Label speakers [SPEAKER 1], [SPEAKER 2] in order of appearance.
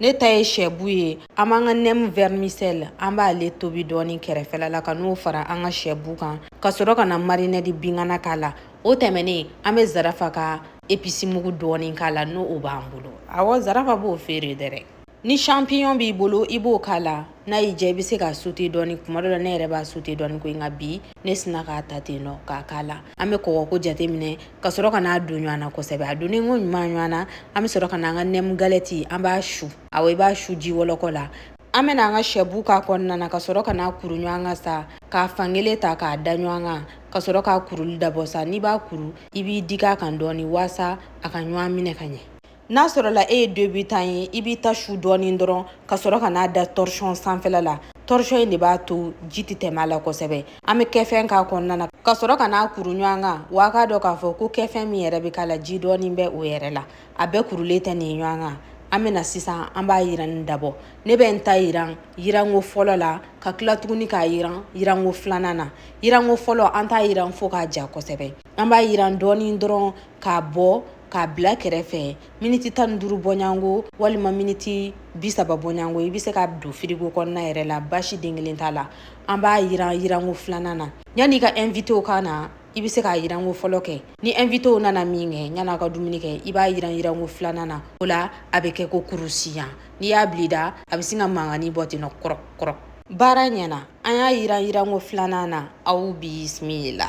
[SPEAKER 1] ne ta ye sɛbu ye an b'an ka nɛmu vɛrimisɛli an b'ale tobi dɔɔni kɛrɛfɛla la ka n'o fara an ka sɛbu kan ka sɔrɔ ka na marinɛdi bingana k'a la o tɛmɛnen an bɛ zarafa ka episimugu dɔɔni k'a la n'o o b'an bolo awɔ zarafa b'o feere dɛrɛ ni champignon b'i bolo i b'o k'a la n'a y'i diya i bɛ se k'a sute dɔɔni kuma dɔ la ne yɛrɛ b'a sute dɔɔni ko nka bi ne sinna k'a ta ten nɔ k'a k'a la an bɛ kɔgɔko jateminɛ ka sɔrɔ ka n'a don ɲɔgɔn na kosɛbɛ a donnen ko ɲuman ɲɔgɔn na an bɛ sɔrɔ ka na an ka nɛmu galɛti an b'a su awɔ i b'a su ji wɔlɔkɔ la an bɛna an ka sɛbu k'a kɔnɔna na ka sɔrɔ ka n'a kuru ɲɔgɔn kan sa k'a fankelen ta k'a da ɲɔgɔn kan ka sɔrɔ k'a kuruli dabɔ sa n'i b'a kuru i b'i digi a kan dɔɔni waasa a ka ɲɔgɔn minɛ ka ɲɛ n'a sɔrɔla e ye debutan ye i b'i ta su dɔɔnin dɔrɔn ka sɔrɔ ka n'a da torchon sanfɛla la torchon in de b'a to ji tɛ tɛmɛ a la kosɛbɛ an bɛ kɛfɛn k'a kɔnɔna na ka sɔrɔ ka n'a kuru ɲɔgɔn kan wa a k'a dɔn k'a fɔ ko kɛfɛn min yɛrɛ bɛ k'a la ji dɔɔnin bɛ o yɛrɛ la a bɛɛ kurulen tɛ nin ɲɔgɔn kan an bɛna sisan an b'a yiranni dabɔ ne bɛ n ta yiran yiranko fɔlɔ la ka tila tuguni k'a yiran yiranko filanan na yiranko fɔlɔ an t'a yiran fo k'a ja kosɛbɛ an b'a yiran dɔɔni dɔrɔn k'a bɔ k'a bila kɛrɛfɛ miniti tan ni duuru bɔɲɔgɔnko walima miniti bi saba bɔɲɔgɔnko i bɛ se k'a don firigo kɔnɔna yɛrɛ la basi den kelen t'a la an b'a yiran yiranko filanan na yanni i ka ɛnfitew ka na i bɛ se k'a yiranko fɔlɔ kɛ ni ɛnfitew nana minkɛ yan'a ka dumuni kɛ i b'a yiran yiranko filanan na o la a bɛ kɛ ko kurusiyan n'i y'a bila i da a bɛ sin ka mankanni bɔ ten nɔ kɔrɔ kɔrɔ baara ɲɛna an y'a yiran yiranko filanan na aw bisimila